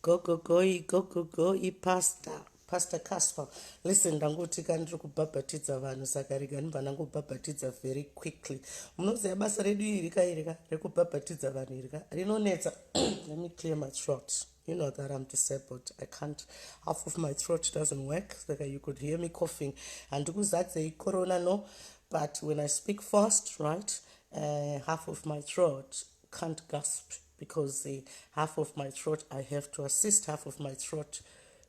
Gogogoi gogogoi pastor pastor casper listen ndangotika ndiri kubhabhatidza vanhu saka rega ndibva ndangobhabhatidza very quickly munoziva basa redu iri ka iri ka rekubhabhatidza vanhu iri ka rinonetsa let me clear my throat you know that i'm disabled i can't half of my throat doesn't work saka you could hear me coughing handikuzadzei corona no but when i speak fast right uh, half of my throat can't gasp because uh, half of my throat i have to assist half of my throat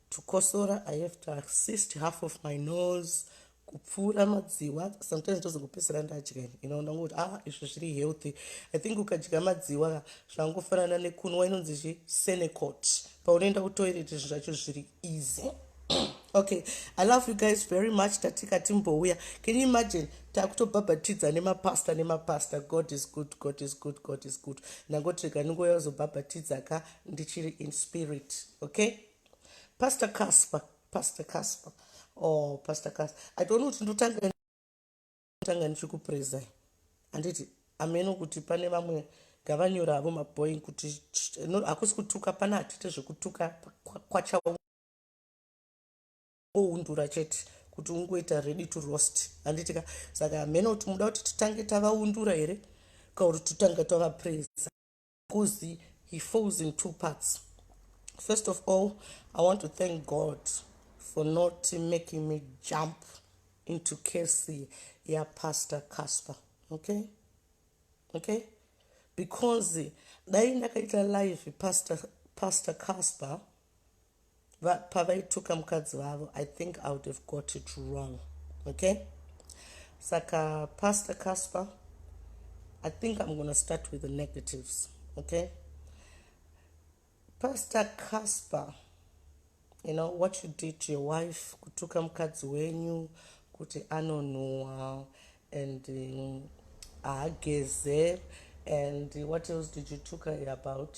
to kosora i have to assist half of my nose kupfuura madziwa sometimes ndozongopedzera ndadya ini ino ndangoti ah izvi zviri healthy i think ukadya madziwa zvangofanana nekunwa inonzi chi senecot paunoenda kutoilet zvinhu zvacho zviri easy okay i love you guys very much tatika timbouya can you imagine takutobhabhatidza nemapasta nemapasta god is good god is good god is good ndangoti rega ndingouya kuzobhabhatidza ka ndichiri in spirit okay pastor casper pastor casper oh pastor casper i don't know kuti ndotanga tanga ndichikupreza handiti ameno kuti pane vamwe ngavanyora avo maboing kuti hakusi kutuka pana hatite zvekutuka kwachawa oundura chete kuti ungoita ready to roast handiti ka saka hameno kuti muda kuti titange tavaundura here ka kuti titange tavapresa bcause he falls in two parts first of all i want to thank god for not making me jump into casey yapastor casper okay okay because dai ndakaita live pastor, pastor casper pavaituka mukadzi vavo i think i would have got it wrong okay saka pastor casper i think i'm gonna start with the negatives okay pastor casper you know what you did to your wife kutuka mukadzi wenyu kuti anonhuwa and haageze um, and what else did you tuka about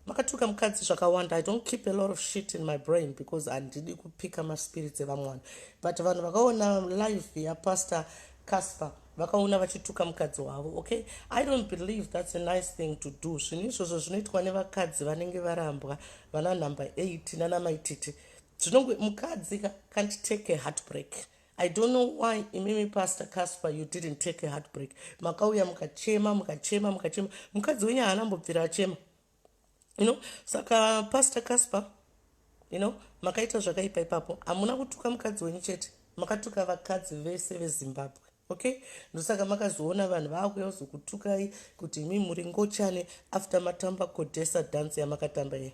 makatuka mukadzi zvakawanda i don't keep a lot of shit in my brain because handidi kupika maspirits evamwe vanhu but vanhu vakaona life yapastor casper vakaona vachituka mukadzi wavo okay i don't believe that's a nice thing to do zvinhu izvozvo zvinoitwa nevakadzi vanenge varambwa vana number 8 nanamaititi zvinonge mukadzi can't take a heartbreak I don't know why imimi pastor Casper you didn't take a heartbreak makauya mukachema mukachema mukachema mukadzi wenyu haana mbobvira achema you know saka pastor Casper you know makaita zvakaipa ipapo hamuna kutuka mukadzi wenyu chete makatuka vakadzi vese vezimbabwe okay ndosaka makazoona vanhu vakuya kuzokutukai kuti imi muri ngochane after matamba kodhesa dance yamakatamba iye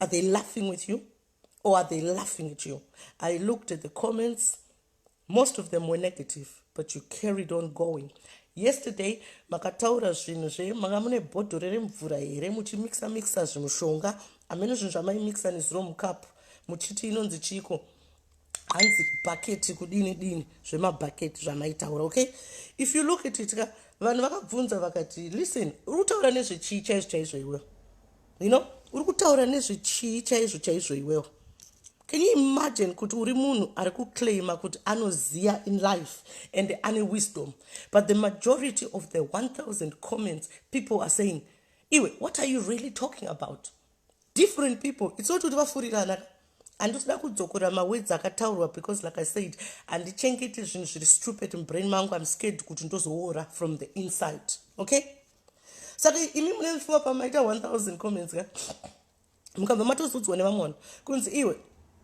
are they laughing with you or are they laughing at you i looked at the comments most of them were negative but you carried on going yesterday makataura zvinhu zve manga mune bhodhoro remvura here muchimixa mixa zvimushonga amene zvinhu zvamaimixa nezuro mukapu muchiti inonzi chiko hanzi bhaketi kudini dini zvemabhaketi zvamaitaura okay if you look at it ka vanhu vakabvunza vakati listen utaura nezvechii chaizvo chaizvo iwe you know uri kutaura nezvechii chaizvo chaizvo iwewo can you imagine kuti uri munhu ari kuclaima kuti anoziva in life and ane wisdom but the majority of the 1000 comments people are saying iwe what are you really talking about different people it's not kuti vafurirana handisida kudzokora mawedzi akataurwa because like i said handichengeti zvinhu zviri stupid mubrain mangu im scared kuti ndozoora from the inside okay saka imi mune mfuwa pamaita 1000 comments ka mukabva matozudzwa nevamwe vanhu kunzi iwe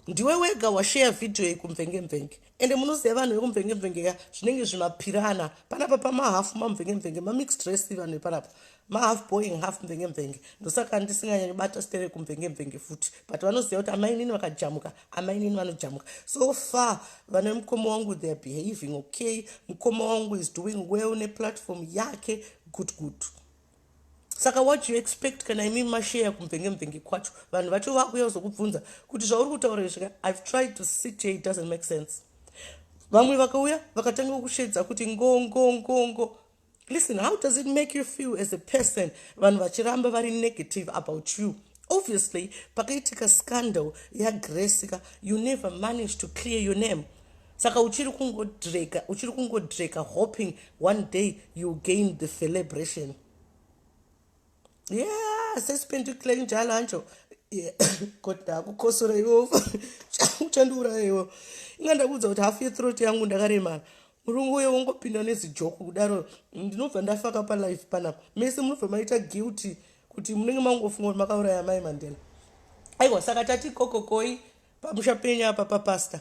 ndiwe wega washeya vhidhiyo iyi kumvengemvenge ende munoziva vanhu vekumvengemvenge ka zvinenge zvimapirana panapa pamahafu mamvengemvenge mamix dress vanhu vepanapa mahalf boing half mvengemvenge ndosaka ndisinganyanyi bata stere kumvengemvenge futi but vanoziva kuti amainini vakajamuka amainini vanojamuka so far vana mukoma wangu theyare behaving okay mukoma wangu is doing well neplatform yake good good saka what you expect kana imi masheya kumvenge mvenge kwacho vanhu vacho vakuya kuzokubvunza kuti zvauri kutaura izvika ive tried to sit here it doesn't make sense vamwe vakauya vakatanga kushedza kuti ngongongongo ngo, ngo, ngo. Listen, how does it make you feel as a person vanhu vachiramba vari negative about you? Obviously, pakaitika scandal yaGrace ka, you never managed to clear your name. Saka uchiri kungodreka, uchiri kungodreka hoping one day you gain the celebration. yeah sesipindi kule njalo hanjo kodwa kukosora iwo uchandiuraya iwo inga ndakuudza kuti hafu yethroat yangu ndakaremara murume uye wongopinda nezijoko kudaro ndinobva ndafaka palife panapa mese munobva maita guilty kuti munenge mangofunga kuti makauraya mai mandela aiwa saka tati kokokoi pamusha penyu apa papasta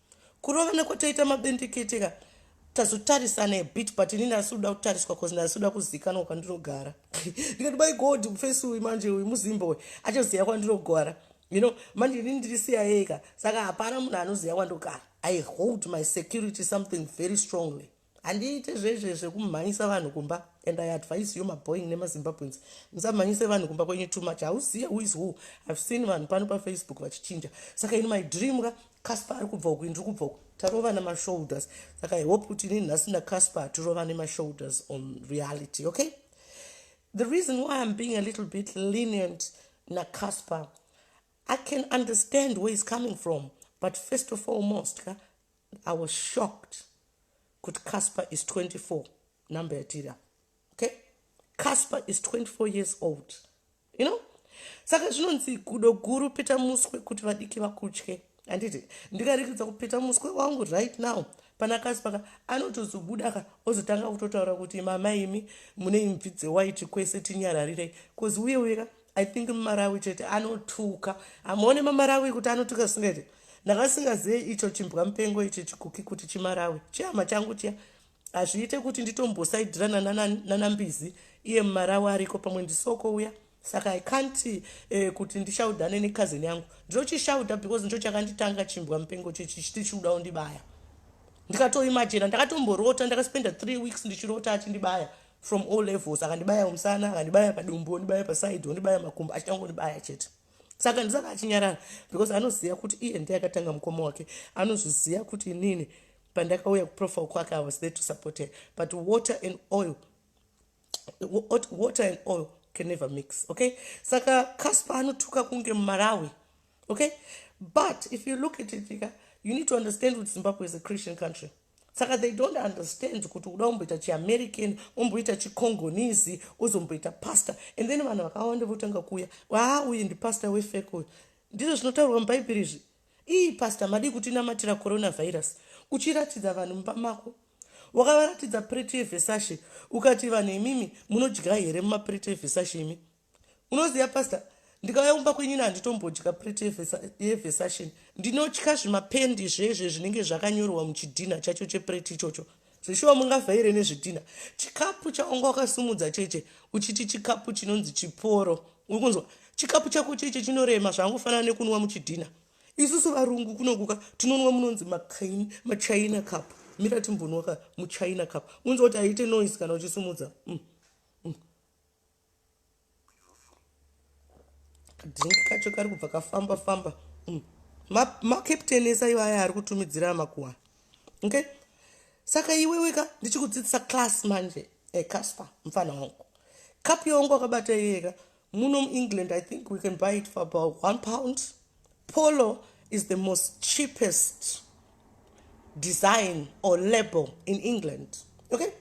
kurovana kwataita mabendekete ka tazotarisana a bit but inini asi kuda kutariswa bcause ndasi kuda kuzikanwa kwandinogara ndikati by god mufesi uyu manje uyu muzimba uyu achaziva kwandinogara you know manje inini ndiri siyaeka saka hapana munhu anoziva kwandogara i hold my security something very strongly handiite zvezve zvekumhanyisa vanhu kumba and i advise you maboing nemazimbabweans musamhanyise vanhu kumba kwenyu too much hauziye who is who ihave seen vanhu pano pafacebook vachichinja saka ini my dream ka casper ari kubva uku ini ndiri kubva uku tarovana mashoulders saka i hope kuti ini nhasi nacasper hatirovane mashoulders on reality okay the reason why i'm being a little bit lenient nacasper i can understand where is coming from but first of all most ka I was shocked kuti Casper is 24 number yatiri apa okay Casper is 24 years old you know saka zvinonzi gudo guru peta muswe kuti vadiki vakutye handiti ndikarikidza kupeta muswe wangu right now pana Casper ka anotozobuda ka ozotanga kutotaura kuti mama imi mune imvi dzewaiti kwese tinyararirei cause uye uye ka i think mumarawi chete anotuka hamuone mamarawi kuti anotuka zvisingaite ndakasingazive icho chimbwa mupengo ichi chikuki kuti chimarawi chihama changu chiya hazviite kuti nditombosaidirana nanambizi iye mumarawi ariko pamwe ndisoko uya saka i can't eh, kuti ndishaudane necousin yangu ndinochishauda because ndicho chakanditanga chimbwa mupengo chichichichiuda undibaya ndikatoimajena ndakatomborota ndakaspenda three weeks ndichirota achindibaya from all levels akandibaya umusana akandibaya padumbu ondibaya paside ondibaya makumbo achitangondibaya chete saka ndisaka achinyarara because anoziva kuti iye ndiye akatanga mukoma wake anozviziva kuti inini pandakauya kuprofile kwake i was there to support her but water and oil water and oil can never mix okay saka casper anotuka kunge mumarawi okay but if you look at it you need to understand kuti zimbabwe is a christian country saka they don't understand kuti uda umboita chiamerican umboita chicongonese uzomboita pastor and then vanhu vakawanda votanga kuuya aa uyu ndipastor wefek uyu ndizvo zvinotaurwa mubhaibheri izvi ii pastor madii kuti inamatira coronavirus uchiratidza vanhu mumba mako wakavaratidza prete yevhesashe ukati vanhu imimi munodya here mumaprete evhesashe imi unoziva pastor ndikauya kumba kwenyini handitombodya pret yevesation ndinotya zvimapendi zvezve zvinenge zvakanyorwa muchidhinha chacho chepret ichocho zveshuwa mungavhaire nezvidhinha chikapu chaunga wakasimudza cheche uchiti chikapu chinonzi chiporo uri kunzwa chikapu chako cheche chinorema zvangofanana nekunwa muchidhinha isusu varungu kunokuka tinonwa munonzi makaini machina cup mira timbonwaka muchina cup unzi kuti aite noise kana uchisimudza mm. drink kacho kari kubva kafamba famba mm. macaptain esa iva aya ari kutumidzira amakuwa okay saka iweweka ndichikudzidzisa class manje ecasper eh, mfana wangu kapu yawangu akabata iyeka muno muengland i think we can buy it for about one pound polo is the most cheapest design or label in england okay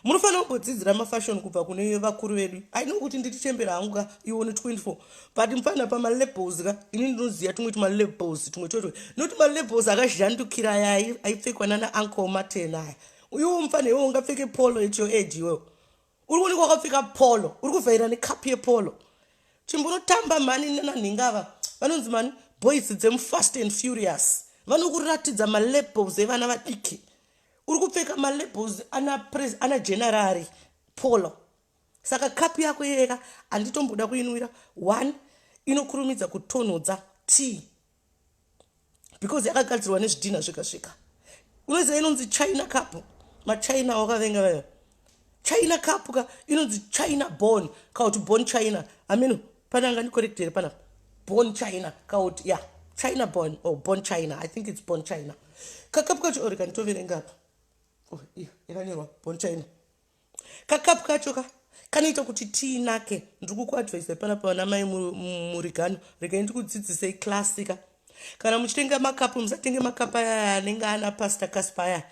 munofanira kumbodzidzira mafashion kubva kune vakuru vedu aino kuti ndiri chembera hangu ka iwo ne 24 but mufana pamalebels ka ini ndinoziva tumwe tumalebels tumwe twetwe nokuti malebels akazhandukira aya aipfekwa nana anko maten aya uyuwo mufana iwo ungapfeke polo at your age iwewo uri kuonekwa wakapfeka polo uri kuvhaira nekapu yepolo chimbunotamba mani nananhinga ava vanonzi mani boys dzemufast and furious vanokuratidza malebels evana vadiki uri kupfeka malabels ana pres ana generari polo saka kapu yako iyeka handitomboda kuinwira one inokurumidza kutonhodza tea because yakagadzirwa nezvidhinha zvega zvega unoziva inonzi china cup machina wakavenga vayo china cup ka inonzi china born kana kuti born china i mean pane anga ndicorrect here panapa born china kana kuti ya yeah. china born or oh, born china i think it's born china kakapu kacho or oh, kanditoverenga apa oh, yakanyorwa born china kakapu kacho ka kanoita kuti tii nake ndiri kukuadvise panapa vana mai murigano regai ndikudzidzisei classika kana muchitenga makapu musatenge makapu aya anenge ana pastor caspa aya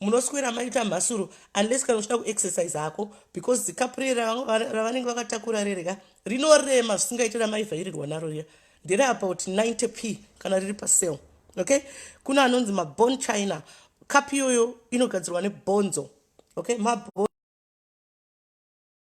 munoswera maita mhasuro unless kana uchida kuexercise hako because dzikapure ravanenge vakatakura rereka rinorema zvisingaite ramaivhairirwa naro riya ndere about 90 p kana riri pasale okay kuna anonzi mabon china kapi iyoyo inogadzirwa nebonzo okay mabon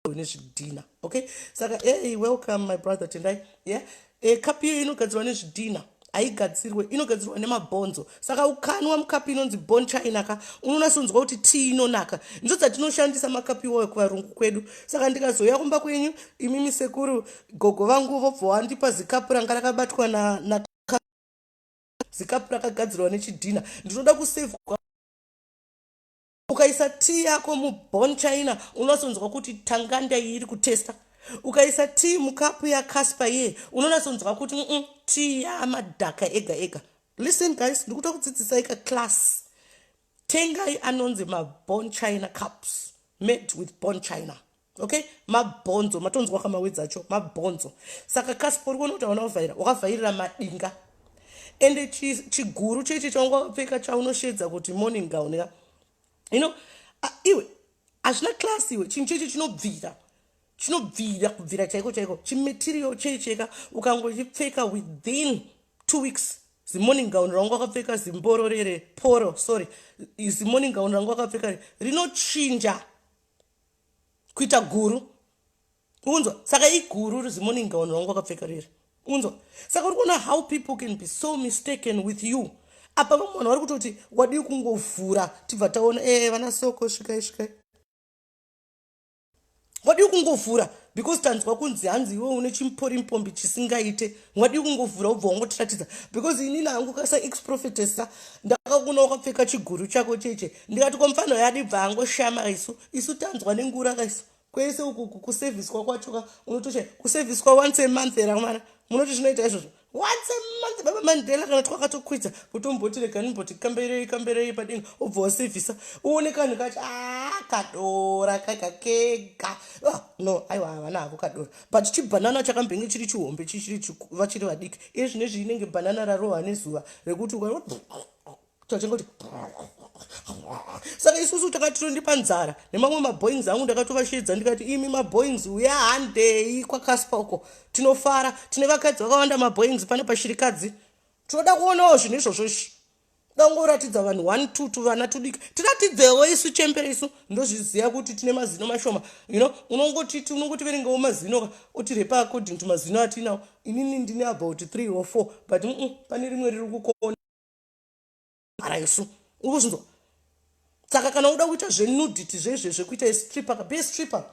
une zvidhina okay saka hey welcome my brother tendai yeah e, kapi iyo inogadzirwa nezvidhina haigadzirwe inogadzirwa nemabhonzo saka ukanwa mukapi inonzi bon china ka unonasonzwa kuti tii inonaka ndidzo dzatinoshandisa makapi iwayo kuvarungu kwedu saka ndikazouya kumba kwenyu imimi sekuru gogo vangu vobva wandipa zikapu ranga rakabatwa na, na zikapu rakagadzirwa nechidhina ndinoda kusevhwa ukaisa tii yako muborn china unasonzwa kuti tanganda iyi iri kutesta ukaisa tii mukapu yacaspa iye unonasonzwa kuti mm tii yamadhaka ega ega listen guys ndikuta kudzidzisai ka class tengai anonzi maborn china cups made with born china okay mabhonzo matonzwa kamawedzi acho mabhonzo saka kaspa uri kuona kuti hauna kuvhaira wakavhairira madinga ende chiguru chechi chaunga wakapfeka chaunoshedza kuti morning gown ya you know uh, iwe hazvina class iwe chinhu chechi chinobvira chinobvira kubvira chaiko chaiko chimaterial cheicheka ukangochipfeka within two weeks zimorning gown rangu akapfeka zimbororere poro sorry zimorning gown rangu akapfeka rinochinja kuita guru unzwa saka iguru uri zimoni ngaoni rangu wakapfeka riri unzwa saka uri kuona how people can be so mistaken with you apa vamwe vanhu vari kutoti wadii kungovhura tibva taona e vana soko svikai svikai wadii kungovhura because tanzwa kunzi hanzi iwe une chimpori mpombi chisingaite wadii kungovhura ubva wangotiratidza because inini hangu kasa exprofetesa ndakakuna wakapfeka chiguru chako cheche ndikati ko mfana uyo adi bva angoshama isu isu tanzwa nengura ka isu kwese uku kuseviswa kwacho ka unotosha kuseviswa once a month era mwana munoti zvinoita izvozvo once a month baba mandela kana twakatokwidza kutomboti rega nimboti kamberei kamberei padinga ubva wasevhisa uone kanhu kacho a ah, kadora kega kega ah, no aiwa havana havo kadora but chibhanana chakambenge chiri chihombe chichiri vachiri vadiki iye zvine zviinenge bhanana rarohwa nezuva rekuti uka tachingoti saka isusu takati tondipa nzara nemamwe maboings angu ndakatovasheedza ndikati imi maboings uya handei kwakaspa uko tinofara tine vakadzi vakawanda maboings pane pashirikadzi tinoda kuonawo zvinhu izvozvo izvi dangoratidza vanhu one two two vana tudika tiratidzewo isu chembere isu ndozviziva kuti tine mazino mashoma you know unongotiti unongotiverengawo mazino ka otirepa according to mazino atinawo inini ndine about three or four but mm, mm, pane rimwe riri kukona mhara yosu uri kuzvinzwa saka kana uda kuita zvenudity zvezve zvekuita estripper ka be stripper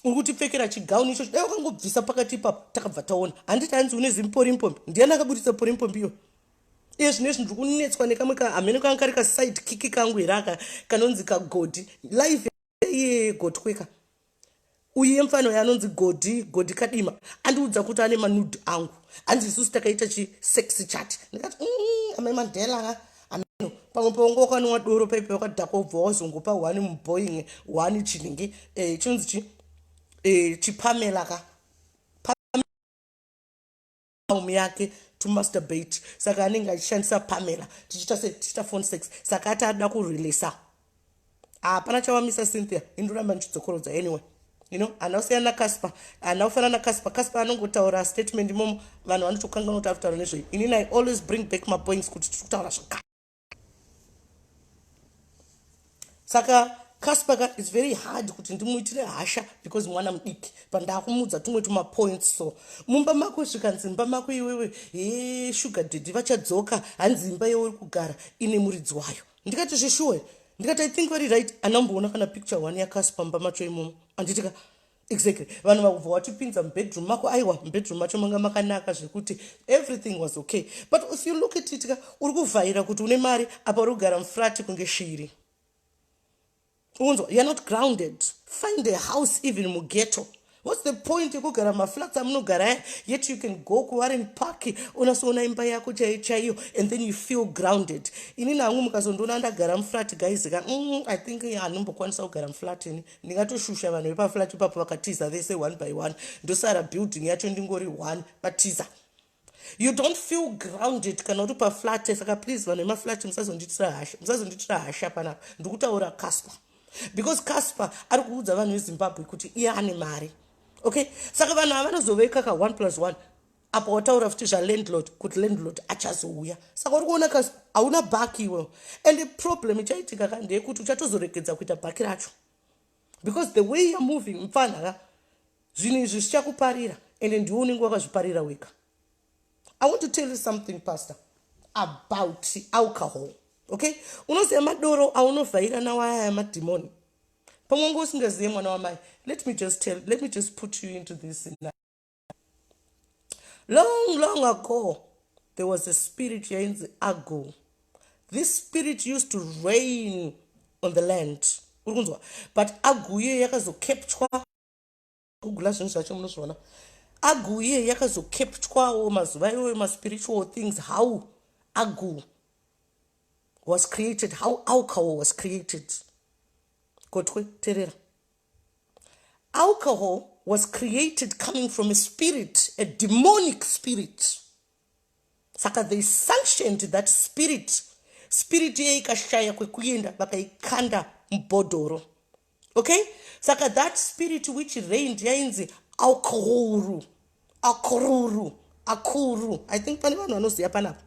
uri kutipfekera chigauni ichocho dai wakangobvisa pakati ipapo takabva taona handiti hanzi une zimporimpombi ndiyani akaburitsa porimpombi iyo iye zvino izvi ndiri kunetswa nekamwe ka hameno kanga kari kaside kiki kangu here aka kanonzi kagodhi live iye gotweka uyu yemfana uyo anonzi godhi godhi kadima andiudza kuti ane manud angu hanzi isusu takaita chisex chat ndikati mm, amai mandela ameno pamwe paunga wakanwa doro paipe wakadhakwa ubva wazongopa one muboing one chinenge eh, chinonzi chi eh, chipamela ka palm yake to masturbate saka anenge achishandisa pamela tichiita se tichiita phone sex saka ati ada kureleasa hapana ah, chavamisa cynthia indoramba ndichidzokorodza anyway you know hana kusiyana nacasper hana kufanana nacasper casper anongotaura statement imomo vanhu vanotokanganwa kuti ari kutaura nezvei inini i always bring back mapoints kuti tiri kutaura zvakare saka casper ka its very hard kuti ndimuitire hasha because mwana mudiki pandakumuudza tumwe tumapoints so mumba mako zvikanzi imba mako iwewe he sugar daddy vachadzoka hanzi imba yeuri kugara ine muridzi wayo ndikati zvishuwe ndikati i think very right anamboona kana picture one yacasper mumba macho imomo anditika exactly vanhu vakubva watipinza mubedroom mako aiwa mubedroom macho manga makanaka zvekuti everything was okay but if you look at it ka uri kuvhaira kuti une mari apa uri kugara mufrati kunge shiri unzwa youare not grounded find a house even mugeto whats the point yekugara maflats amunogara aya yet you can go kuwaren park unasoona imba yako chaiyo chaiyo and then you feel grounded inini hangu mukazondiona ndagara muflat guys ka mm, i think hanombokwanisa kugara muflat ini ndingatoshusha vanhu vepaflat ipapo vakatiza vese one by one ndosara building yacho ndingori one vatiza you don't feel grounded kana uri paflat saka please vanhu vemaflat musazonditira hasha musazonditira hasha panapa ndikutaura casper because casper ari kuudza vanhu vezimbabwe kuti iye ane mari okay saka vanhu ava vanozoveka ka one plus one apa wataura futi zvalandlord kuti landlord achazouya saka uri kuona kasi hauna baki iwewo and problem ichaitika ka ndeyekuti uchatozoregedza kuita baki racho because the way you're moving mfana ka zvinhu izvi zvichakuparira ende ndiwe unenge wakazviparira wega i want to tell you something pastor about alcohol okay unoziva madoro aunovhaira nawo aya madhimoni pamwe unge usingazive mwana wamai let me just tell let me just put you into this now. long long ago there was a spirit yainzi ago this spirit used to rain on the land uri kunzwa but ago iye yakazokeptwa kugula zvinhu zvacho munozviona ago iye yakazokeptwawo mazuva iwoyo maspiritual things how ago was created how alcohol was created kotwe terera Alcohol was created coming from a spirit, a demonic spirit. Saka they sanctioned that spirit. Spirit iye ikashaya kwekuenda vakaikanda mubhodhoro. Okay? Saka that spirit which reigned yainzi alcohol. akururu akuru i think pane vanhu vanoziva panapa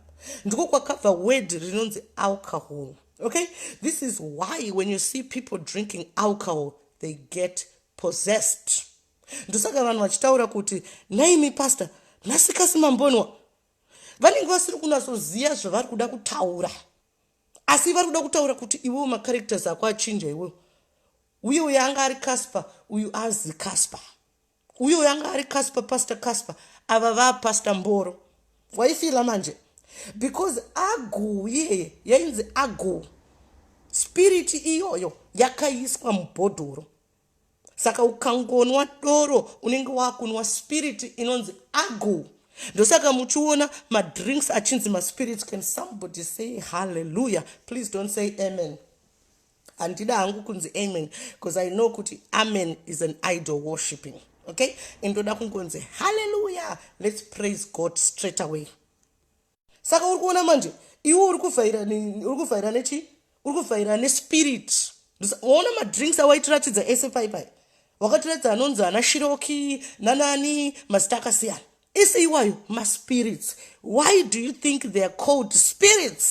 ndiko kwakabva word rinonzi alcohol okay this is why when you see people drinking alcohol they get possessed ndosaka vanhu vachitaura kuti naimi pastor nasikasi mambonwa vanenge vasiri kunatsoziva zvavari kuda kutaura asi vari kuda kutaura kuti iwewo macharacters ako achinja iwewo uye uyo anga ari casper uyu azi casper uyo yanga ari casper pastor casper ava vapastor mboro waifila manje because agu iyeye yainzi agu spiriti iyoyo yakaiswa mubhodhoro saka ukangonwa doro unenge wakunwa spiriti inonzi agu ndosaka muchiona madrinks achinzi maspirits can somebody say halleluya please don't say amen handida hangu kunzi amen because i know kuti amen is an idol worshipping okay and ndoda kungonzi halleluya let's praise god straight away saka uri kuona manje iwe uri kuvhaira uri kuvhaira nechii uri kuvhaira nespirit waona madrinks awaitiratidza ese paipai wakatiratidza anonzi ana shiroki nanani mazita akasiyana ese iwayo maspirits why do you think they are called spirits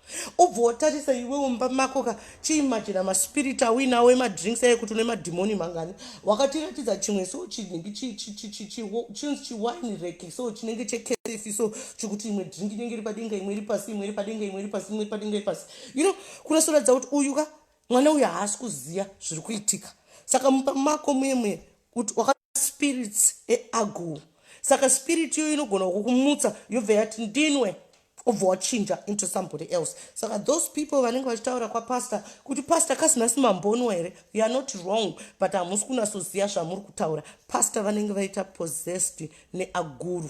ubva watarisa iwewo mumba mako ka chiimajina maspiriti auinawo emadrinks aye kuti une madhimoni mangani wakatiratidza chimwe so chinenge chinzi chiwine reki so chinenge chekerefi so chikuti imwe drink inenge iri padenga imwe iri pasi imwe iri padenga imwe iri pasi imwe iri padenga iri pasi you know kunasoratidza kuti uyu ka mwana uyu haasi kuziva zviri kuitika saka mumba mako muye muye kuti spirits eagu saka spirit iyoyo inogona kukumutsa yobva yati ndinwe obva wachinja into somebody else saka those people vanenge vachitaura kwapastor kuti pastor kasina simambonwa here you are not wrong but hamusi kunasoziva zvamuri kutaura pastor vanenge vaita possessed neaguru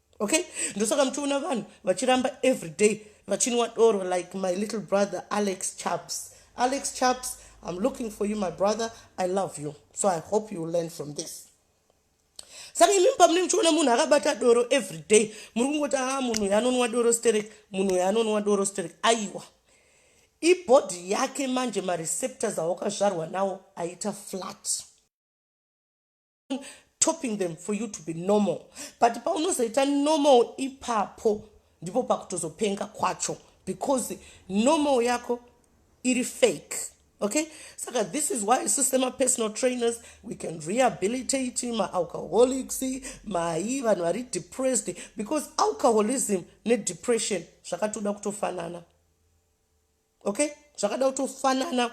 okay ndosaka muchiona vanhu vachiramba everyday vachinwa doro like my little brother alex chaps alex chaps i'm looking for you my brother i love you so i hope you learn from this saka imimi pamunenge muchiona munhu akabata doro everyday muri kungoti a ah, munhu uyo anonwa doro sterek munhu uyo anonwa doro sterek aiwa ibhodhi yake manje mareceptors awakazvarwa nawo aita flat topping them for you to be normal but paunozoita normal ipapo ndipo pakutozopenga kwacho because normal yako iri fake okay saka this is why isu semapersonal trainers we can rehabilitate maalcoholics mai vanhu vari depressed because alcoholism nedepression zvakatoda kutofanana okay zvakada kutofanana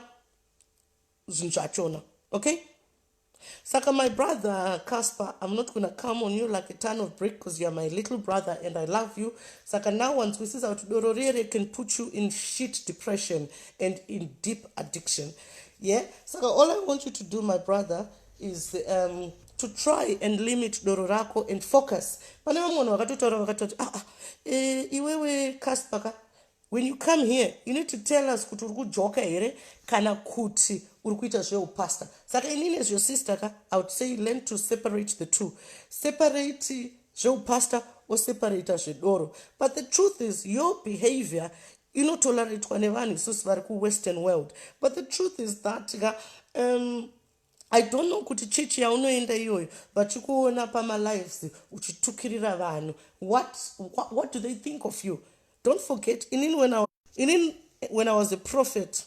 zvinhu zvachona okay saka my brother casper i'm not gonna come on you like a ton of brick because youare my little brother and i love you saka now wanzwisisa kuti doro riere can put you in shit depression and in deep addiction yeah saka all i want you to do my brother is um, to try and limit doro rako and focus pane vamwe vanhu vakatotaura vakatoti aa ah, ah, eh, iwewe caspaka when you come here you need to tell us kuti uri kujoka here kana kuti uri kuita zveupastor saka ini nezve sister ka i would say learn to separate the two separate zveupastor oseparata zvedoro but the truth is your behavior inotoraritwa nevanhu isusu vari kuwestern world but the truth is that ka um, I don't know kuti church yaunoenda iyoyo vachikuona pamalives uchitukirira vanhu what, what, what do they think of you don't forget inin when I, inin when I was a prophet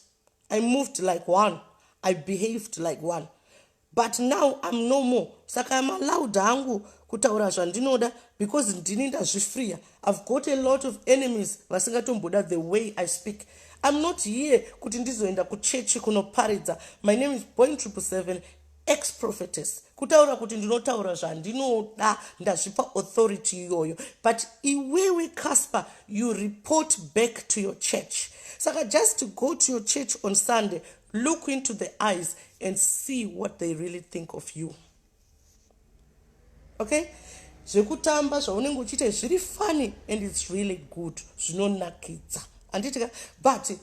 I moved like one I behaved like one but now I'm no more saka I'm allowed hangu kutaura zvandinoda because ndini ndazvifreer I've got a lot of enemies vasingatomboda the way I speak. I'm not here kuti ndizoenda kuchechi kunoparidza. My name is Point Triple Seven, ex-prophetess. Kutaura kuti ndinotaura zvandinoda ndazvipa authority iyoyo. But iwewe Casper, you report back to your church. Saka just go to your church on Sunday, look into the eyes and see what they really think of you. okay zvekutamba zvaunenge uchiita zviri funny and its really good zvinonakidza handitika but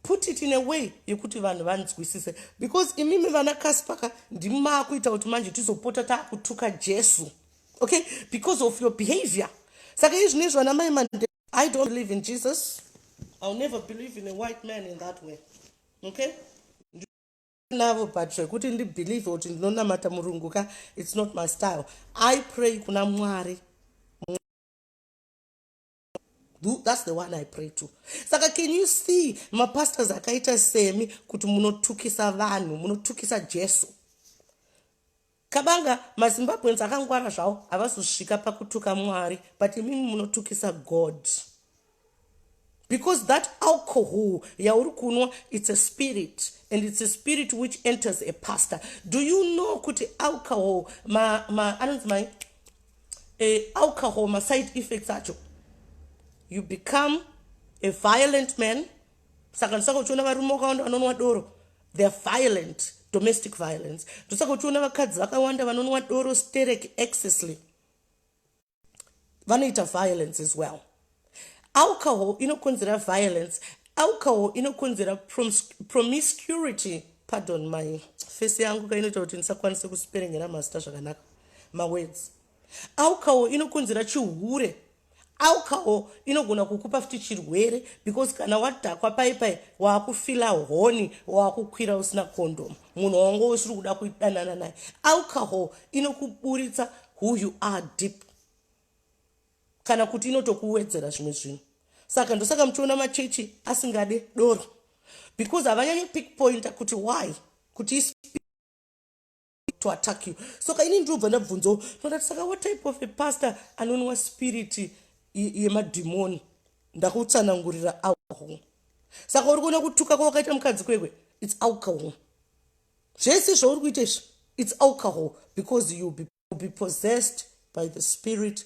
put it in a way yekuti vanhu vanzwisise because imimi vana kaspaka ndimi maakuita kuti manje tizopota taakutuka jesu okay because of your behavior saka izvi nezvi vana mai mande i don't believe in jesus ill never believe in a white man in that way okay navo but zvekuti ndibelieve kuti ndinonamata murungu ka its not my style i pray kuna mwari that's the one i pray to saka can you see mapastors akaita semi kuti munotukisa vanhu munotukisa jesu Kabanga mazimbabweans akangwara zvawo havazosvika pakutuka mwari but imimi munotukisa god because that alcohol yauri kunwa it's a spirit and it's a spirit which enters a pastor do you know kuti alcohol ma, ma, anonzi mai eh, alcohol maside effects acho you become a violent man saka ndisaka uchiona varume wakawanda vanonwa doro they're violent domestic violence ndosaka uchiona vakadzi vakawanda vanonwa doro sterek excessly vanoita violence as well alcohol inokonzera violence alcohol inokonzera promiscurity pardon my fesi yangu kainoita kuti ndisakwanise kusiperengera mazita zvakanaka mawords alcohol inokonzera chihure alcohol inogona kukupa futi chirwere because kana wadhakwa pai pai waakufila honi waakukwira usina kondomu munhu wango usiri kuda kudanana naye alcohol inokuburitsa who you are deep kana kuti inotokuwedzera zvimwe zvinhu saka ndosaka muchiona machechi asingade doro because havanyanyi pick pointer kuti why kuti to attack you so ka ini ndinobva ndabvunzawo ndati saka what type of a pastor anonwa spirit yemadhimoni ndakutsanangurira alcohol saka uri kuona kutuka kwawakaita mukadzi kwekwe its alcohol zvese zvauri kuita izvi its alcohol because you be, be possessed by the spirit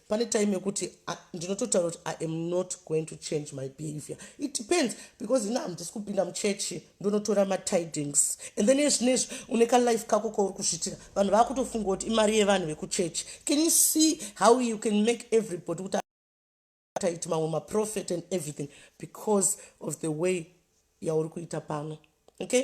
pane time yekuti ndinototaura kuti i am not going to change my behavior it depends because ina hamdisi kupinda muchechi ndonotora matidings and then ezvinezvi une kalife kako kauri kuzvitira vanhu vakutofunga kuti imari yevanhu vekuchechi can you see how you can make everybody kuti taiti mamwe maprofet and everything because of the way yauri kuita pano okay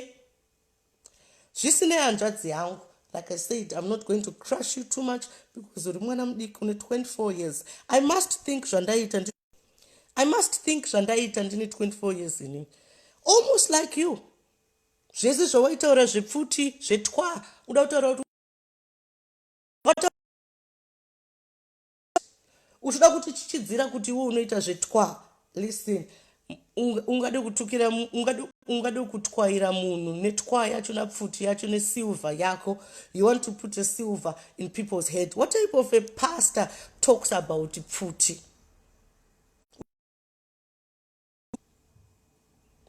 zvisinei hanzvadzi yangu like i said im not going to crush you too much because uri mwana mudiki une 24 years i must think zvandaiita ndi i must think zvandaiita ndine 24 years ini almost like you zvese zvawaitaura zvepfuti zvetwa uda kutaura kuti uchoda kuti chichidzira kuti iwe unoita zvetwa listen ungade kutukira ungade kutwaira munhu netwa yacho napfuti yacho nesilver yako you want to put a silver in people's head what type of a pastor talks about pfuti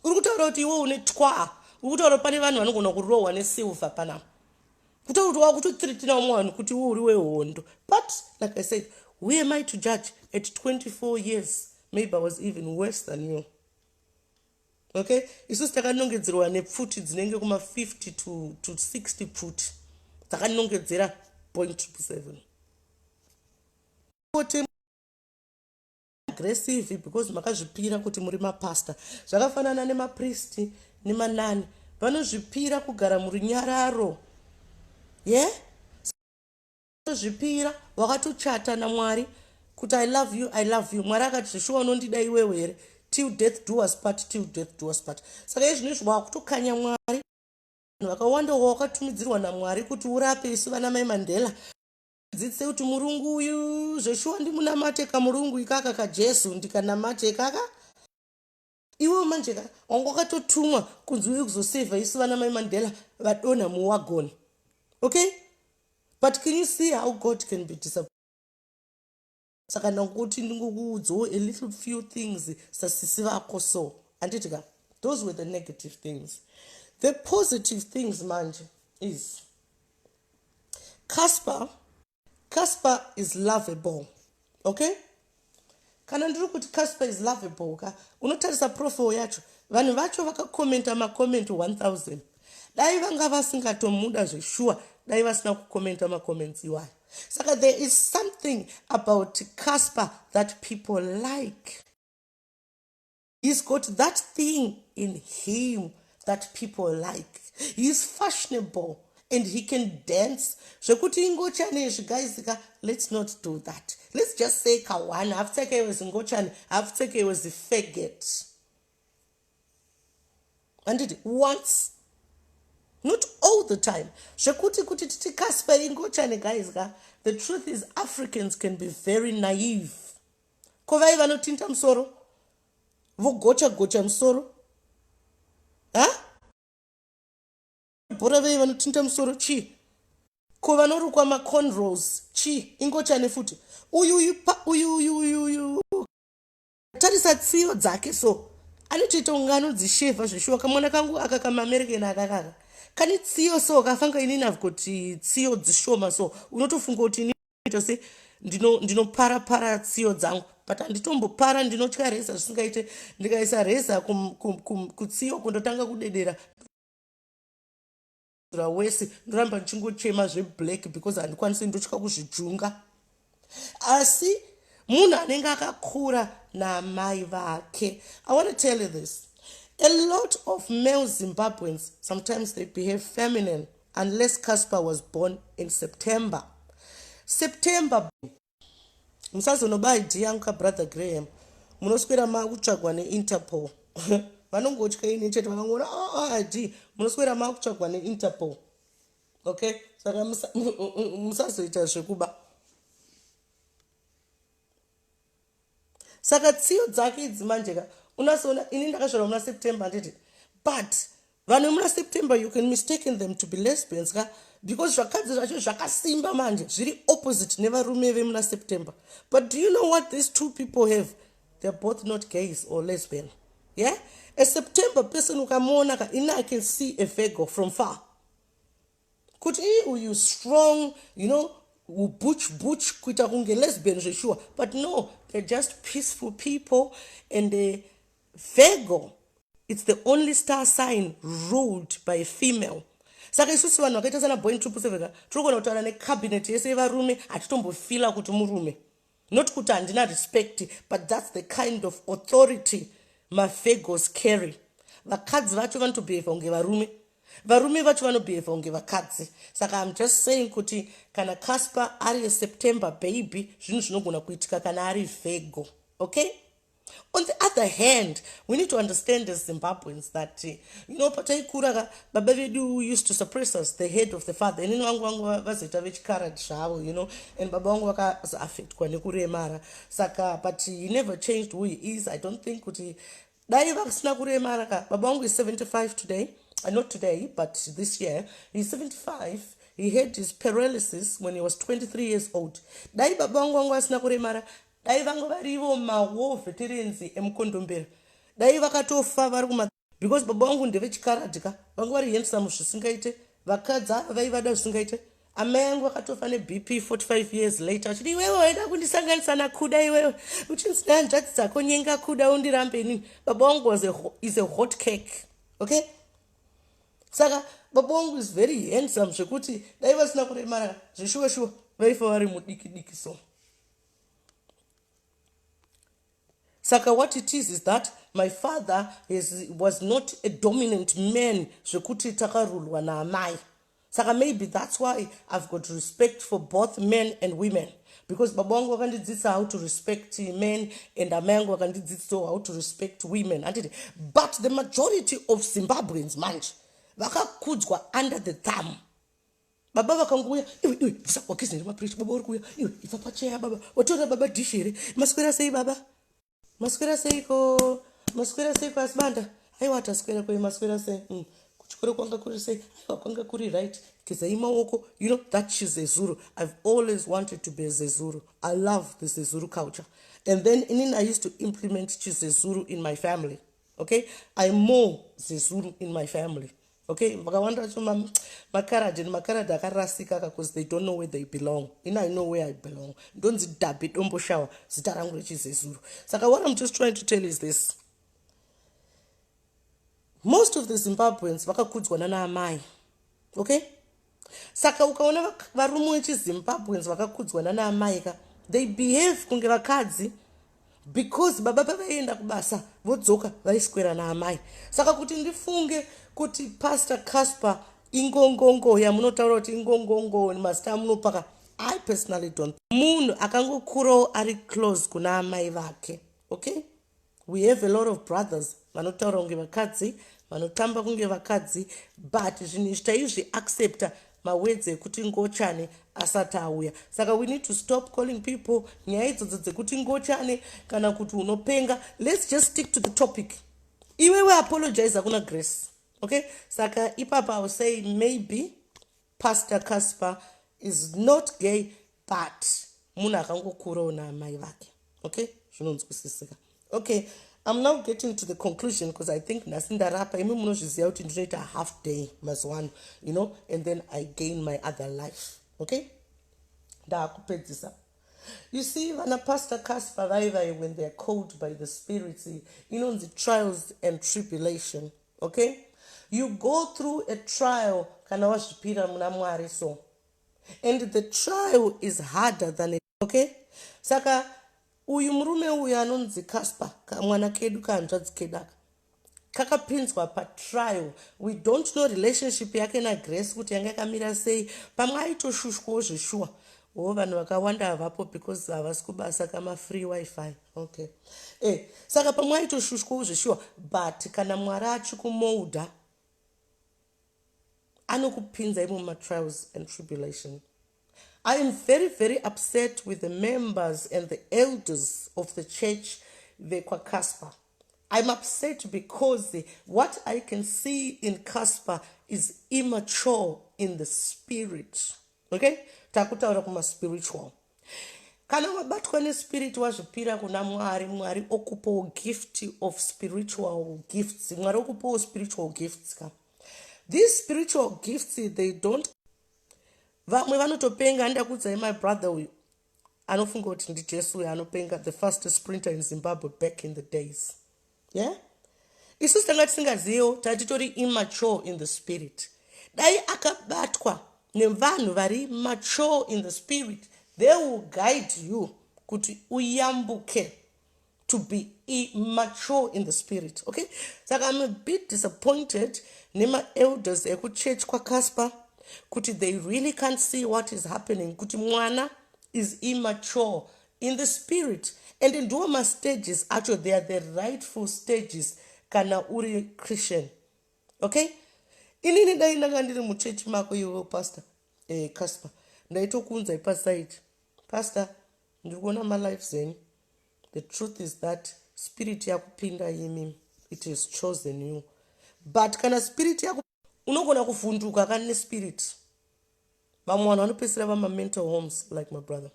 uri kutaura kuti iwe une twaa uri kutaura pane vanhu vanogona kurohwa nesilver panapa kutaura kuti wakutothiritinawo mwe vanhu kuti iwe uri wehondo but like i said who am i to judge at 24 years maybe i was even worse than you okay isusu takanongedzerwa nepfuti dzinenge kuma 50 to, to 60 pfuti dzakanongedzera point 7 kuti aggressive because makazvipira kuti muri mapastor zvakafanana nemapristi nemanani vanozvipira kugara murunyararo ye yeah? zvipira wakatochata namwari kuti i love you i love you mwari akati zveshuwa unondida iwewe here till death do us part till death do us part saka izvino izvo wakutokanya mwari vakawanda wawakatumidzirwa namwari kuti urape isu vana mai mandela Dzidzisei kuti murungu uyu zveshuwa ndimunamate kamurungu ikaka kajesu ndikanamate ikaka iwewo manje ka wanga wakatotumwa kunzi uye kuzosevha isu vana mai mandela vadonha muwagoni okay but can you see how god can be disappoint saka ndakuti ndingokuudzawo a little few things sasisi vako so handiti ka those were the negative things the positive things manje is casper casper is lovable okay kana ndiri kuti casper is lovable ka unotarisa profile yacho vanhu vacho vakakomenta macomment 1000 dai vanga vasingatomuda zveshuwa dai vasina kukomenta macomments iwayo saka there is something about casper that people like he's got that thing in him that people like heis fashionable and he can dance zvekuti ingochane izvi gaizika let's not do that let's just say kawana hapfekeiwe zingochane hapfekeiwe zifegeti handiti once not all the time zvekuti kuti titi kaspa ingochane guys ka the truth is africans can be very naive ko vai vanotinta musoro vogocha gocha musoro ha bhora vei vanotinta musoro chii ko vanorukwa maconrols chii ingochane futi uyu uyu uyu uyu uyu tarisa tsiyo dzake so anotoita kunge anodzishevha zveshuwa kamwana kangu aka kamamerekeni akakaka kane tsiyo so kafanga ini navo kuti tsiyo dzishoma so unotofunga kuti ini tose ndinopara ndino para tsiyo dzangu but handitombopara ndinotya reza zvisingaite ndikaisa reza kutsiyo kundotanga kudedera kuzvidzura wese ndoramba ndichingochema zveblack because handikwanisi ndotya kuzvijunga asi munhu anenge akakura naamai vake i want to tell you this a lot of male zimbabweans sometimes they behave feminine unless casper was born in september september musazonoba id yangu ka brother graham munoswera makutsvagwa neinterpol vanongotya ini chete vanongoona aa oh, oh, id munoswera makutsvagwa neinterpol okay saka musazoita zvekuba saka tsiyo dzake idzi manje ka unasoona ini ndakazvarwa muna september handiti but vanhu vemuna september you can mistaken them to be lesbians ka because zvakadzi zvacho zvakasimba manje zviri opposite nevarume vemuna september but do you know what these two people have they're both not gays or lesbian yeah a september person ukamuona ka ini i can see a vego from far kuti ii uyu strong you know ubuch buch kuita kunge lesbian zveshuwa but no they're just peaceful people and uh, vego it's the only star sign ruled by a female saka isusu vanhu vakaita sana boin trupuseveka tiri kugona kutaura necabinet yese yevarume hatitombofila kuti murume not kuti handina respect but thats the kind of authority mafegos carry vakadzi vacho vanotobeheva kunge varume varume vacho vanobeheva kunge vakadzi saka iam just saying kuti kana casper ari yeseptember baby zvinhu zvinogona kuitika kana ari vego okay On the other hand, we need to understand as Zimbabweans that, eh, you know, pataikura ka, baba vedu used to suppress us, the head of the father. Inini vangu vangu vazoita vechikarad zvavo, you know, and baba vangu vakazoaffectwa nekuremara. Saka, but he never changed who he is. I don't think kuti dai vasina kuremara ka. Baba vangu is 75 today. Uh, not today, but this year. He's 75. He had his paralysis when he was 23 years old. Dai baba vangu vangu vasina kuremara Dai vanga varivo ma war veterans emukondombera dai vakatofa vari kuma because baba vangu ndevechikaradhi ka vanga vari handsome zvisingaite vakadzi ava vaivada zvisingaite amai yangu vakatofa nebp 45 years later achiti iwewe waida kundisanganisa nakuda iwewe uchinzi nehanzvadzi dzako nyenga kuda undirambe inini baba wangu was a, is a hot cake okay saka baba wangu is very handsome zvekuti dai vasina kuremara zveshuwa shuwa vaifa vari mudiki diki so saka what it is is that my father is, was not a dominant man zvekuti takarulwa naamai saka maybe that's why i've got respect for both men and women because baba wangu vakandidzidzisa how to respect men and amai yangu vakandidzidzisawo how to respect women anditi but the majority of zimbabweans manje vakakudzwa under the thumb baba vakangouya iwe iwe bvisa wakizi nere mapureshi baba uri kuuya iwe ibva pacheya baba watoona baba dishi here maswera sei baba maswera seiko maswera seiko asi banda aiwa ataswera kwe maswera sei mm. kuchikoro kwanga kuri sei aiwa kwanga kuri right gezai maoko you know that shes zezuru i've always wanted to be zezuru i love the zezuru culture and then inini i used to implement chizezuru in my family okay i more zezuru in my family okay vakawanda vacho makaradi nemakaradi akarasika ka bcause they don't know where they belong in i know where i belong ndonzi dhabi dombo shawa zita rangu rechizezuru saka what im just trying to tell is this most of the zimbabweans vakakudzwa nanaamai okay saka ukaona varume wechizimbabweans vakakudzwa nana amaika they behave kunge vakadzi because baba pavaienda kubasa vodzoka vaiswera naamai saka kuti ndifunge kuti pastor casper ingongongo yamunotaura kuti ingongongo mazita amunopaka i personally don't munhu akangokurawo ari close kuna amai vake okay We have a lot of brothers vanotaura kunge vakadzi vanotamba kunge vakadzi but zvinhu izvi taizvi accepta mawedzi ekuti ngochane asati auya saka we need to stop calling people nyaya idzodzo dzekuti ngochane kana kuti unopenga let's just stick to the topic iwewe apologize kuna grace okay saka ipapa ausay maybe Pastor Casper is not gay but munhu akangokurawo naamai vake okay zvinonzwisisika okay I'm now getting to the conclusion because I think nhasi ndarapa imi munozviziva kuti ndinoita half day mazuva ano you know and then I gain my other life okay ndaakupedzisa you see vana pastor casper vaivaye when theyare called by the spirits inonzi trials and tribulation Okay you go through a trial kana wazvipira muna Mwari so and the trial is harder than it. Okay saka uyu murume uyu anonzi Casper kamwana kedu kahanzvadzi kedu aka kakapinzwa patrial we don't know relationship yake nagrace kuti yanga yakamira sei pamwe aitoshushwawo zveshuwa wo vanhu vakawanda havapo because havasi kubasa kamafree wifi okay eh saka pamwe aitoshushwa zveshuwa but kana mwari achikumouda anokupinza imo matrials and tribulation i am very very upset with the members and the elders of the church vekwacasper i'm upset because what i can see in casper is immature in the spirit okay takutaura kuma spiritual kana wabatwa nespirit wazvipira kuna mwari mwari okupawo gift of spiritual gifts mwari okupawo spiritual gifts ka these spiritual gifts they don't vamwe vanotopenga andakuudzai my brother uyu anofunga kuti ndijesu uyo anopenga the fast sprinter in zimbabwe back in the days yeah isusu tanga tisingaziviwo taa titori immature in the spirit dai akabatwa nevanhu vari mature in the spirit they will guide you kuti uyambuke to be immature in the spirit okay saka im a bit disappointed nemaelders ekuchurch kwacasper kuti they really can't see what is happening kuti mwana is immature in the spirit and ndiwo mastages acho they are the rightful stages kana uri christian okay inini dai ndanga ndiri muchechi mako iwewo pastor eh, casper ndaitokuunzai pasaiti pastor ndiri kuona malife zenyu the truth is that spirit yakupinda imi it has chosen you but kana spirit yaku unogona kuvhunduka kani nespirit vamwe vanhu vanopedzisira vamamental homes like my brother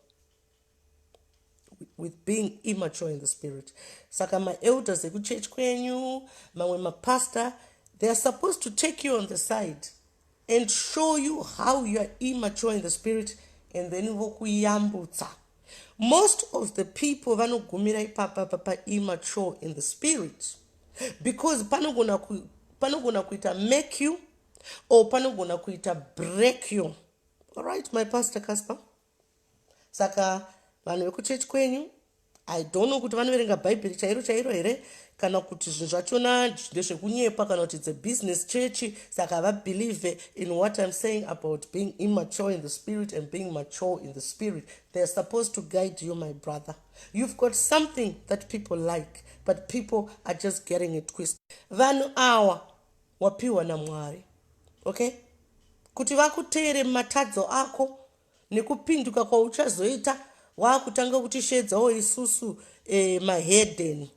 with being immature in the spirit saka maelders ekuchurch kwenyu mamwe mapastor they are supposed to take you on the side and show you how you are immature in the spirit and then vokuyambutsa most of the people vanogumira ipapa papa immature in the spirit because panogona ku, panogona kuita make you or panogona kuita break you alright my pastor casper saka vanhu vekuchechi kwenyu i don't know kuti vanoverenga bhaibheri chairo chairo here kana kuti zvinhu zvachona ndezvekunyepa kana kuti the business church saka havabelieve in what im saying about being immature in the spirit and being mature in the spirit they are supposed to guide you my brother you've got something that people like but people are just getting it twist vanhu awa wapiwa namwari okay kuti vakuteere matadzo ako nekupinduka kwauchazoita waakutanga kutisheedzawo isusu eh, mahedeni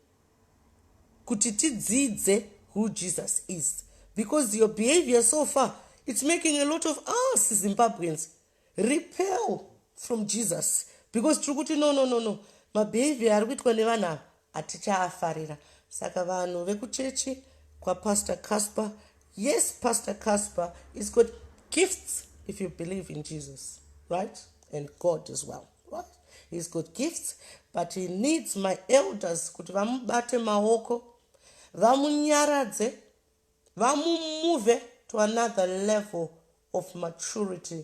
kuti tidzidze who jesus is because your behavior so far it's making a lot of us zimbabweans repel from jesus because tiri kuti no no no no mabehavior ari kuitwa nevanhu ava Hatichaafarira saka vanhu vekuchechi kwaPastor Casper. Yes, Pastor Casper is got gifts if you believe in Jesus, right? And God as well, right? He's got gifts, but he needs my elders kuti vamubate maoko, vamunyaradze, vamumuve to another level of maturity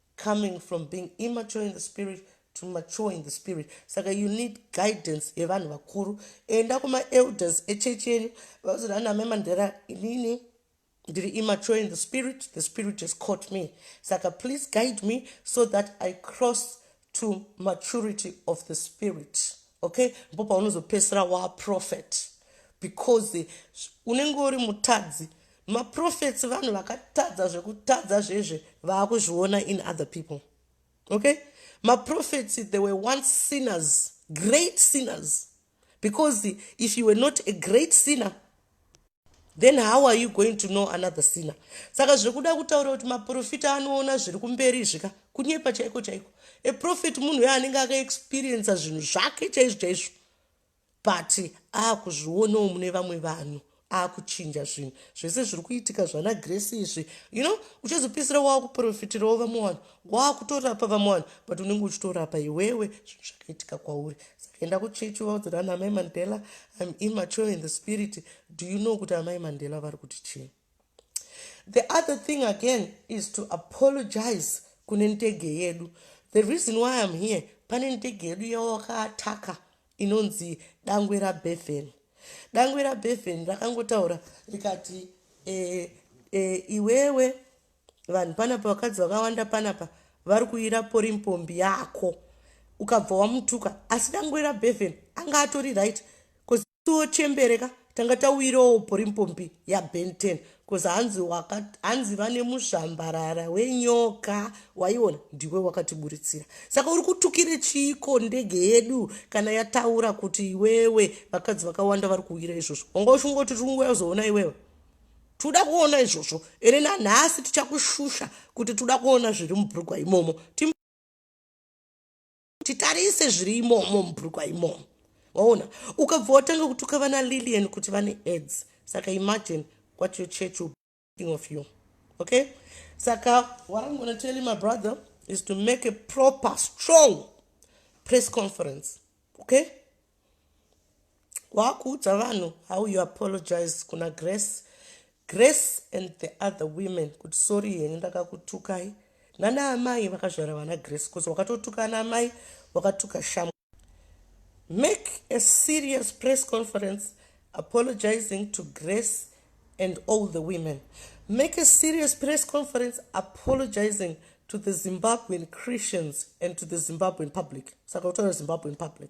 coming from being immature in the spirit to mature in the spirit saka you need guidance yevanhu vakuru enda kumaelders echechi yenyu vazoti ana memandera inini ndiri immature in the spirit the spirit has caught me saka please guide me so that i cross to maturity of the spirit okay mpo paunozopesera waprofet because unenge uri mutadzi maprofets vanhu vakatadza zvekutadza zvezve vaakuzviona in other people okay maprofets they were once sinners great sinners because if you were not a great sinner then how are you going to know another sinner saka zvekuda kutaura kuti maprofita anoona zviri kumberi zvika kunyepa chaiko chaiko aprofit munhu uyo anenge akaexperiensa zvinhu zvake chaizvo chaizvo but akuzvionawo mune vamwe vanhu akuchinja zvinhu zvese zviri kuitika zvana grace izvi you know uchazopedzisira waakuprofitirawo vamwe vanhu waakutorapa vamwe vanhu but unenge uchitorapa iwewe zvinhu zvakaitika kwauri sakaenda kuchechi vaudzira ana amai mandela im immature in the spirit do you know kuti amai mandela vari kuti chii the other thing again is to apologize kune ndege yedu the reason why im here pane ndege yedu yawakaataka inonzi dangwe rabevhen dangwe rabevhen rakangotaura rikati e, e, iwewe vanhu panapa vakadzi vakawanda panapa vari kuira pori mpombi yako ukabva wamutuka asi dangwe rabevhen anga atori right koziwo chembereka Tanga tauirawo porimpombi yaBen 10 cause hanzi waka hanzi vane muzvambarara wenyoka waiona ndiwe wakatiburitsira saka uri kutukire chiiko ndege yedu kana yataura kuti iwewe vakadzi vakawanda vari kuwira izvozvo wanga uchingoti tiri kunguva yazoona iwewe tikuda kuona izvozvo ere nanhasi tichakushusha kuti tikuda kuona zviri mubrugwa imomo titarise zviri imomo mubrukwa imomo waona ukabva watanga kutuka vana lilian kuti vane aids saka imagine what your church will think of you okay saka what i'm gonna tell you my brother is to make a proper strong press conference okay wakuudza vanhu how you apologize kuna grace grace and the other women kuti sorry henyu ndakakutukai nana amai vakazvara vana grace bcause wakatotuka ana amai wakatuka shamu make a serious press conference apologizing to grace and all the women make a serious press conference apologizing to the zimbabwean christians and to the zimbabwean public saka utaura zimbabwean public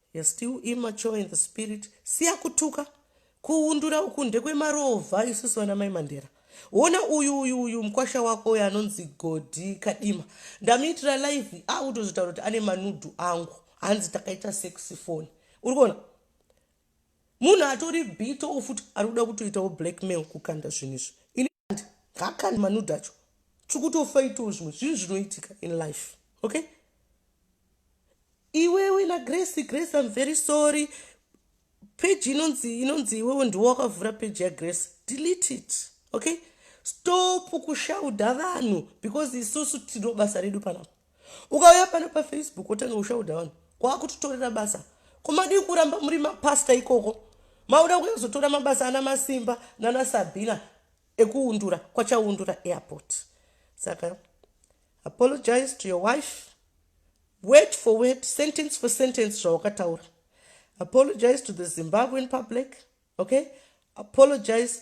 You're still immature in the spirit siya kutuka kuundura uku ndekwemarovha isusu vana mai mandera wona uyu uyu uyu mukwasha wako uyo anonzi godhi kadima ndamuitira live akutozotaura kuti ane manudhu angu hanzi takaita sexy phone uri kuona munhu atori bito ufuti ari kuda kutoitawo blackmail kukanda zvinhu izvi and ngakani manude acho chikutofaitawo zvimwe zvinhu zvinoitika in life okay iwewe nagrace grace im very sorry peji inonzi inonzi iwewe ndiwo wakavhura peji yagrace delete it okay stop kushauda vanhu because isusu tino basa redu panapa ukauya pano pafacebook otanga kushaudha vanhu kwakutotorera basa komadii kuramba muri mapasta ikoko mauda kuya kuzotora mabasa ana masimba nana sabina ekuundura kwachaundura airport saka apologize to your wife word for word sentence for sentence zvawakataura apologize to the zimbabwean public okay apologize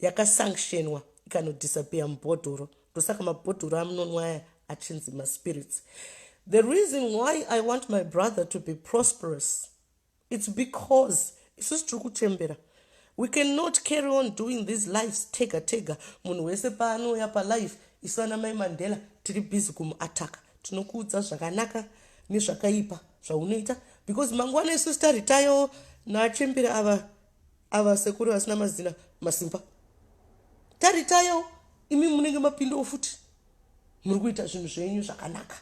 yakasanctionwa ikanodisappear mubhodhoro ndosaka mabhodhoro amunonwa aya achinzi maspirits the reason why i want my brother to be prosperous its because isusu tiri kuchembera we cannot carry on doing these lives tega tega munhu wese paanouya palife isu ana mai mandela tiri busy kumuataka tinokuudza zvakanaka nezvakaipa zvaunoita because mangwana isu sitaritayoo nachembera ava ava sekuru vasina mazina masimba taritayawo imi munenge mapindawo futi muri kuita zvinhu zvenyu zvakanaka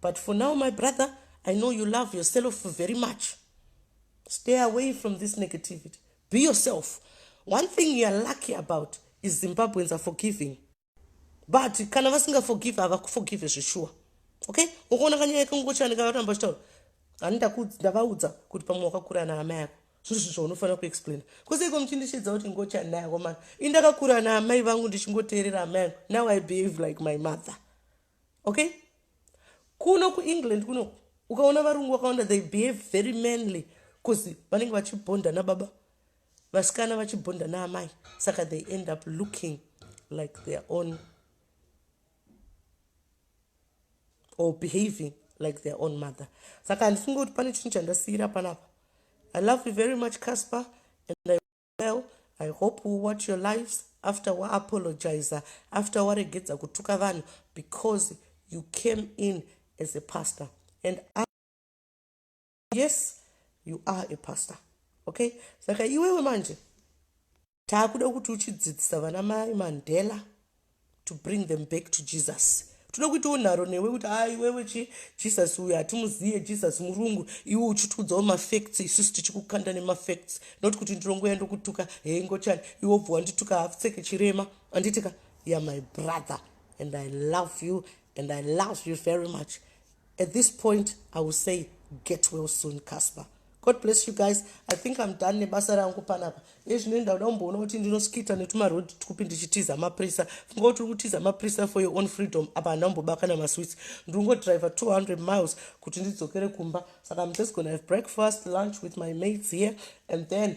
but for now my brother i know you love yourself very much stay away from this negativity be yourself one thing youare lucky about is zimbabweans are forgiving but kana vasinga forgive havakuforgive zveshuwa okay ukaona kanyaya kangochanika vatamba chitaura ani ndavaudza kuti pamwe wakakura ana amai ako zviri zvinhu zvaunofanira kuexplaina kuseiko muchindishidza kuti ngochanai ako mani i ndakakura ana amai vangu ndichingoteerera amai angu now i behave like my mother okay kuno kuengland kuno ukaona varungu vakawanda they behave very manly bcause vanenge vachibhonda nababa Vasikana vachibhonda naamai saka they end up looking like their own or behaving like their own mother saka handifunge kuti pane chinhu chandasiyira panapa i love you very much casper and i well i hope we watch your lives after waapologizer after waregedza kutuka vanhu because you came in as a pastor and I yes you are a pastor okay saka iwewe manje taakuda kuti uchidzidzisa vana mai mandela to bring them back to jesus tinoda kuitawo nharo newe kuti a iwewe chi jesus uyo hatimuzive jesus murungu iwe uchitiudzawo mafacts isusu tichikukanda nemafacts not kuti ndirongoya ndokutuka hei ngochani iwe obva wandituka hafuseke chirema anditika ya my brother and i love you and i love you very much At this point I will say get well soon Casper. God bless you guys. I think I'm done nebasa rangu panapa. Ezvino ndauda kumboona kuti ndinoskita netuma road tupi ndichitiza maprisa. Funga kuti uri kutiza maprisa for your own freedom. Apa handina kumbobaka na masweets. Ndiri ngo driver 200 miles kuti ndidzokere kumba. Saka I'm just going to have breakfast, lunch with my mates here and then